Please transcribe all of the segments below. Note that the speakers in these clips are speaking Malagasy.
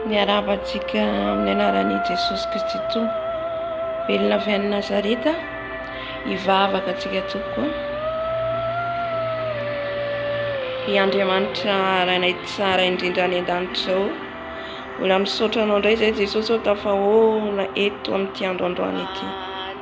Miarahaba antsika amin'ny anaran'i Jesosy Kristy Tompo. Velona avy any Nazareta, hivavaka antsika tompoko. I Andriamanitra rainay tsara indrindra any an-danitra ao. Mbola misaotra anao indray izay Jesosy ao tafahoana eto amin'ity androandroany ity.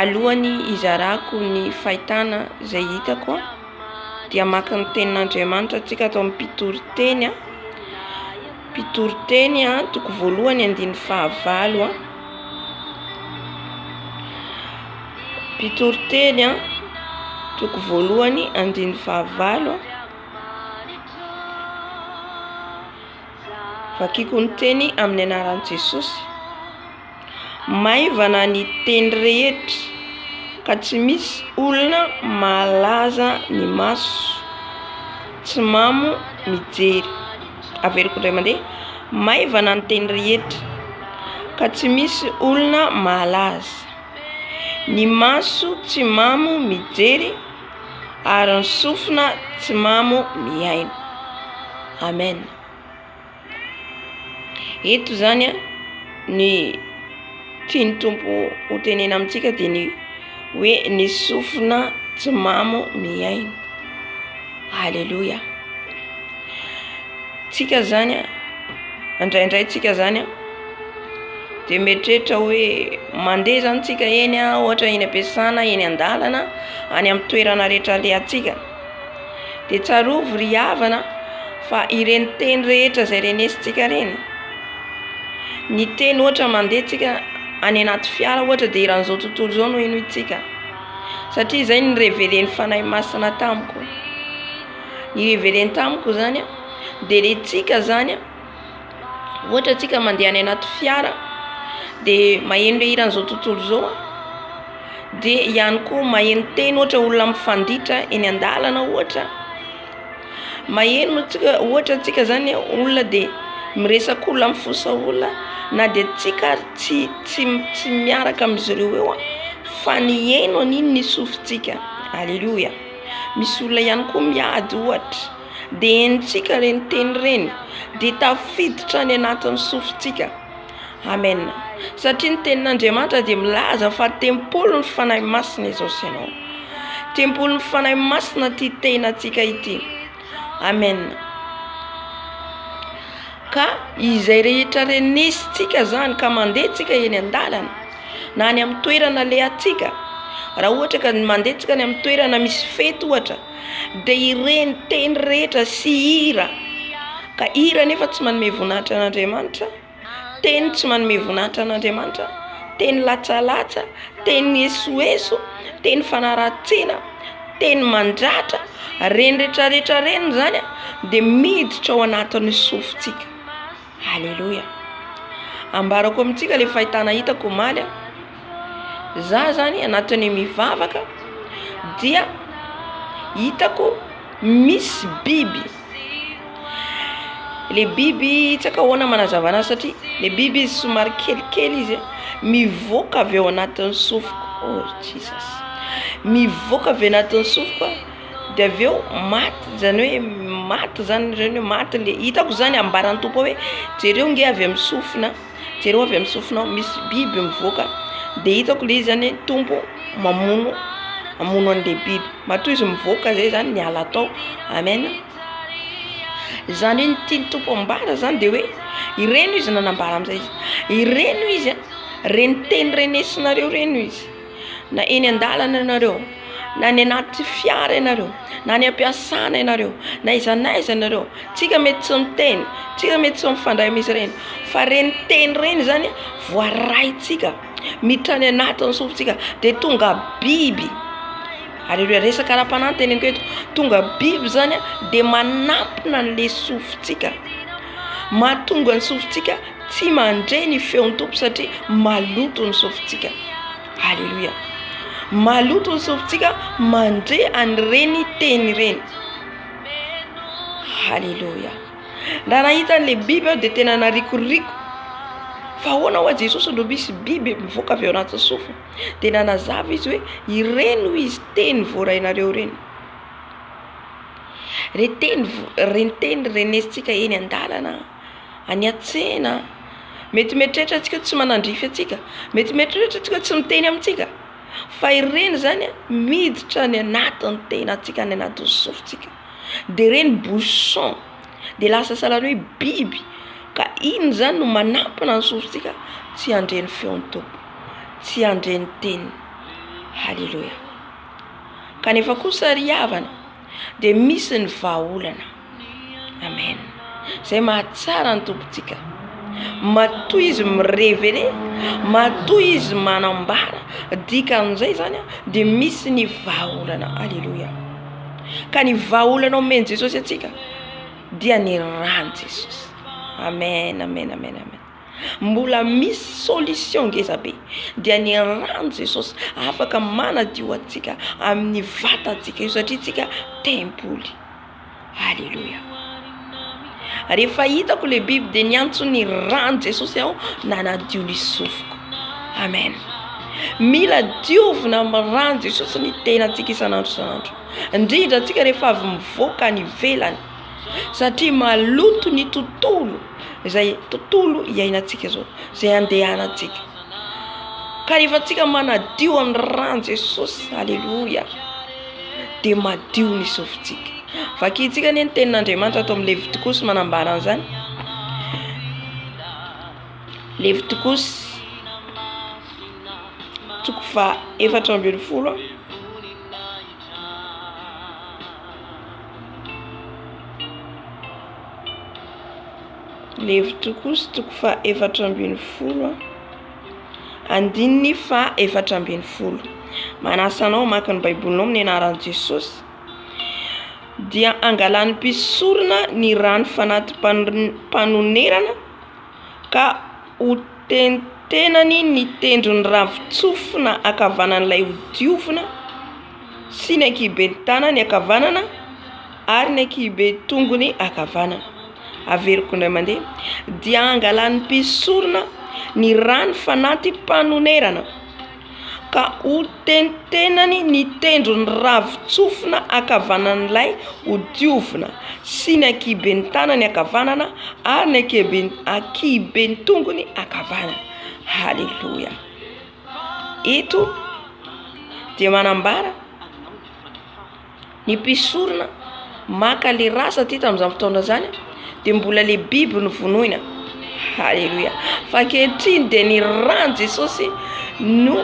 Alohan'ny hizarako ny fahitana izay hitako dia maka ny tenin'Andriamanitra antsika ato amin'ny mpitoriteny. Mpitoriteny toko voalohany andininy fahavalo. Mpitoriteny toko voalohany andininy fahavalo. Vakiko ny teny amin'ny anaran'i Jesosy. Maivana ny teny rehetra ka tsy misy olona mahalaza ny maso tsy mamo mijery. Averiko indray mandeha, maivana ny teny rehetra ka tsy misy olona mahalaza ny maso tsy mamo mijery ary ny sofina tsy mamo mihaino. Amen. Eto izany an, ny tian'ny Tompo hotenena amintsika dia ny hoe ny sofina tsy mamo mihaino. Aleloia. Tsika izany an, indraindray tsika izany an, dia mieritreritra hoe mandeha izany tsika eny an, ohatra eny am-piasana, eny an-dalana, any amin'ny toerana rehetra alehantsika. dia tsarovy ry havana fa ireny teny rehetra izay renesintsika ireny, ny teny ohatra mandeha tsika any anaty fiara ohatra dia eran'izao tontolo izao no henointsika satria izay no nireveren'ny Fanahy Masina tamiko, ny hirevereny tamiko izany dia ilay tsika izany. Ohatra antsika mandeha any anaty fiara dia maheno ilay hiran'izao tontolo izao aho dia ihany koa maheno teny ohatra olona mifanditra eny an-dalana ohatra, maheno antsika ohatra antsika zany olona dia miresaka olona mifosa olona na dia antsika ary tsy tsy tsy miaraka amin'izy ireo eo aho fa ny heno an'iny ny sofintsika, aleloia, misy olona ihany koa miady ohatra. Dia henontsika ireny teny ireny dia tafiditra any anatin'ny sofintsika. Amen. Satria ny tenin'Andriamanitra dia milaza fa tempolin'ny Fanahy Masina izao sy ianao. Tempolin'ny Fanahy Masina ity tenantsika ity. Amen. Ka izay rehetra renesintsika zany ka mandeha tsika eny an-dalana na any amin'ny toerana alehantsika, raha ohatra ka mandeha tsika any amin'ny toerana misy fety ohatra, dia ireny teny rehetra sy hira, ka hira anefa tsy manome voninahitra an'Andriamanitra, teny tsy manome voninahitra an'Andriamanitra, teny latsalatsa, teny esoeso, teny fanaratsiana, teny mandratra, ireny rehetra rehetra ireny izany dia miditra ao anatin'ny sofintsika. Aleloia. Ambarako amintsika le fahitana hitako omaly. Za zany anatin'ny mivavaka dia hitako misy biby. Le biby tsy aiko ahoana manazavana azy satria le biby izy somary kelikely izy mivoaka avy ao anatin'ny sofiko. Oh Jesus. Mivoaka avy anatin'ny sofiko. dia avy eo maty izany hoe maty izany ireny hoe maty le hitako izany ambaran'ny tompo ao hoe jereo nge avy amin'ny sofina jereo avy amin'ny sofina ao misy biby mivoaka de hitako le izy zany hoe tompo mamono mamono an'le biby matoa izy mivoaka zay zany miala tao amen izany hoe ny tian'ny tompo ambara zany de hoe ireny hoy izy nanambara amizay izy ireny hoy izy a reny teny renesinareo reny hoy izy na eny an-dalana ianareo, na any anaty fiara ianareo, na any am-piasana ianareo, na aiza na aiza ianareo, tsika mety tsy miteny, tsika mety tsy mifandray amin'izy ireny fa ireny teny ireny zany voaraintsika miditra any anatin'ny sofintsika dia tonga biby, ary ireo resaka ara-panahy no teneniko eto, tonga biby zany dia manampina an'le sofintsika. Mahatonga ny sofintsika tsy mandre ny feon'ny Tompo satria maloto ny sofintsika. Aleloia. Maloto ny sofintsika mandre an'ireny teny ireny. Aleloia. Raha nahita an'le biby aho dia tena narikoriko. Fa ahoana ho'a Jesosy no misy biby mivoaka avy ao anatin'ny sofiny? Dia nanazava izy hoe ireny hoy izy teny voarainareo ireny. Reteny reteny renesintsika eny an-dalana, any an-tsena, mety mieritreritra antsika hoe tsy manandrify antsika, mety mieritreritra antsika hoe tsy miteny amintsika, fa ireny izany a miditra any anatin'ny tenantsika any anatin'ny sofintsika, de ireny bouchon de lasa sahala ny hoe biby, ka iny zany no manampina ny sofintsika tsy handre ny feon'ny tompony, tsy handre ny teniny, haleloia. kanefa kosa ry havana dia misy ny vahaolana amen zay mahatsara ny tompontsika matoa izy mirevele matoa izy manambara dika an'izay zany a de misy ny vahaolana aleloia ka ny vahaolana omen'i jesosy antsika dia ny ran'i jesosy amen amen amen amen Mbola misy solution ngeza be dia ny rano Jesosy afaka manadio antsika amin'ny vatantsika io satria tsika tempoly aleloia rehefa hitako le biby dia niantso ny rano Jesosy aho nanadio ny sofiko amen mila diovina amin'ny rano Jesosy ny tenantsika isan'andro isan'andro indrindra antsika rehefa avy mivoaka any ivelany Satria maloto ny tontolo, izay tontolo iainantsika izao, izay andehanantsika. Ka rehefa antsika manadio amin'ny ran'i Jesosy, aleloia, dia madio ny sofintsika. Vakintsika anie ny tenin'Andriamanitra ato amin'ny Levitokosy manambara an'izany. Levitokosy toko faha efatra ambin'ny folo. Levitro kosa toko fa efatra ambin'ny folo andininy fa efatra ambin'ny folo manasa anao maka ny baibolinao amin'ny anaran'i Jesosy dia angalan'ny mpisorona ny rano fanati-panonerana ka hotentenany ny tendron'ny ravin-tsofina ankavanan'ilay hodiovina sy ny ankihiben'ny tanany ankavanana ary ny ankihiben'ny tongony ankavanana. Averiko indray mandeha. Dia hangalan'ny mpisorona ny rano fanatim-panonerana. ka hotentenany ny tendrony ravin-tsofina ankavanan'ilay hodiovina sy ny ankihiben'ny tanany ankavanana ary ny ankihiben'ny tongony ankavanana. Haleloia! Eto dia manambara. Ny mpisorona maka le ra satria tamin'izany fotoana izany dia mbola le biby no vonoina. Haleloia! Fa ankehitriny dia ny ran'i Jesosy no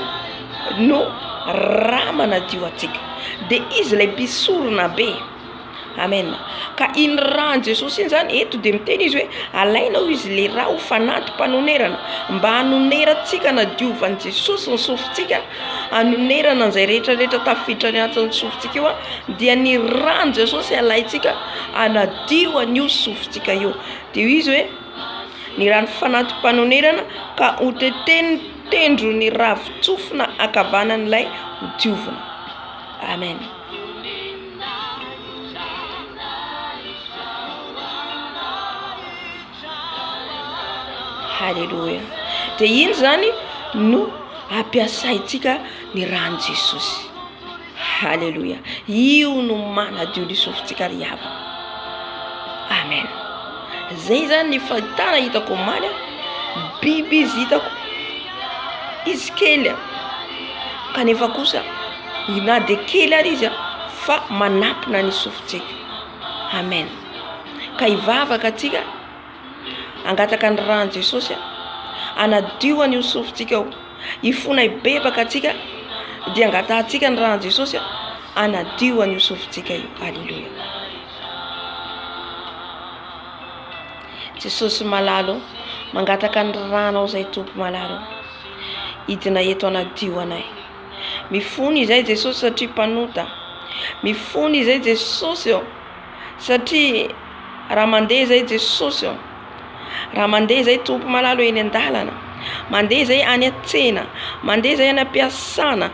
no ra manadio antsika. Dia Izy ilay mpisorona be. Amen! Ka iny ran'i Jesosy iny zany, eto dia miteny Izy hoe alaina hoy Izy le ra ho fanantim-panonerana, mba hanonerantsika hanadiovan'i Jesosy ny sofintsika. Hanonerana an'izay rehetra rehetra tafiditra ny antson'ny sofintsika io dia ny ràn'i Jesosy alaintsika hanadio an'io sofintsika io. Dia izy hoe ny ràn'ny fanati-panonerana ka hotetenin'ny tendron'ny ravin-tsofina ankavanan'ilay ho diovina. Amen. Haleloia. Dia iny izany no ampiasaintsika ny ran'i Jesosy. Haleloia. Io no manadio ny sofintsika ry havana. Amen. Zay zany ny fahitana hitako omaly. Biby izy hitako. Izy kely. Kanefa kosa na dia kely ary izy fa manampina ny sofintsika. Amen. ka hivavaka antsika hangataka ny ran'i Jesosy hanadio an'io sofintsika io, hifona hibebaka antsika dia hangatahantsika ny ran'i Jesosy hanadio an'io sofintsika io, aleloia, Jesosy malala ô, mangataka ny ranao zay Tompo malala ô, hidina eto hanadio anay, mifona izahay Jesosy satria mpanota, mifona izahay Jesosy ô. Satria raha mandeha izay Jesosy ô, raha mandeha izay Tompo malalo eny an-dalana, mandeha izay any an-tsena, mandeha izay any am-piasana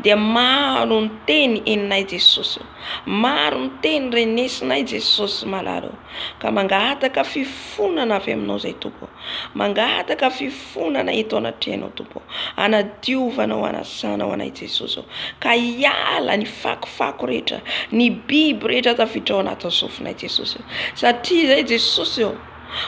dia maro ny teny henonay Jesosy ô, maro ny teny renesinay Jesosy malalo ô, ka mangataka fifonana avy aminao izay Tompo ô, mangataka fifonana. fifonana eto anatrehanao Tompo ô, hanadiovanao, hanasanao anay Jesosy ô, ka hiala ny fakofako rehetra, ny biby rehetra tafiditra ao anatin'ny sofinay Jesosy ô, satria izay Jesosy ô,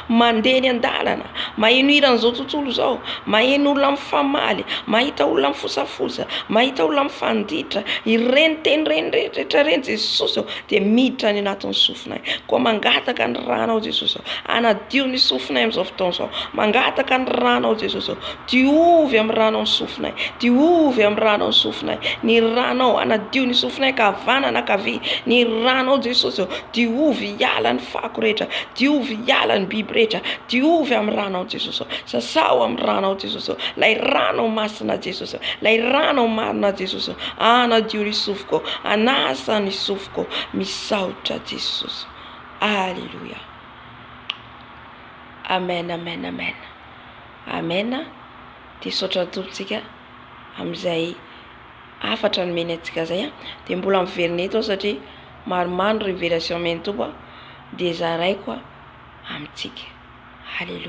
mandeha eny an-dalana, maheno hira an'izao tontolo izao, maheno olona mifamaly, mahita olona mifosafosa, mahita olona mifanditra, ireny teny ireny rehetra ireny Jesosy ô dia miditra any anatin'ny sofinao. sofinay. Koa mangataka ny ranao Jesosy aho. Hanadio ny sofinay amin'izao fotoana izao. Mangataka ny ranao Jesosy aho. Diovy amin'ny ranao ny sofinay. Diovy amin'ny ranao ny sofinay. Ny ranao hanadio ny sofinay ka havanana ankavia. Ny ranao Jesosy aho. Diovy hiala ny fako rehetra. Diovy hiala ny biby rehetra. Diovy amin'ny ranao Jesosy aho. Sasaho amin'ny ranao Jesosy aho. Ilay ranao masina Jesosy aho. Ilay ranao marina Jesosy aho. Hanadio ny sofiko. Hanasa ny sofiko. tompoko misaotra Jesosy Aleloia Amen Amen Amen Amen de saotra ny tompontsika amin'izay afatra nomeny antsika zay a de mbola miverina eto satria maromaro ny révélation omeny tompo a de zaraiko a amintsika Aleloia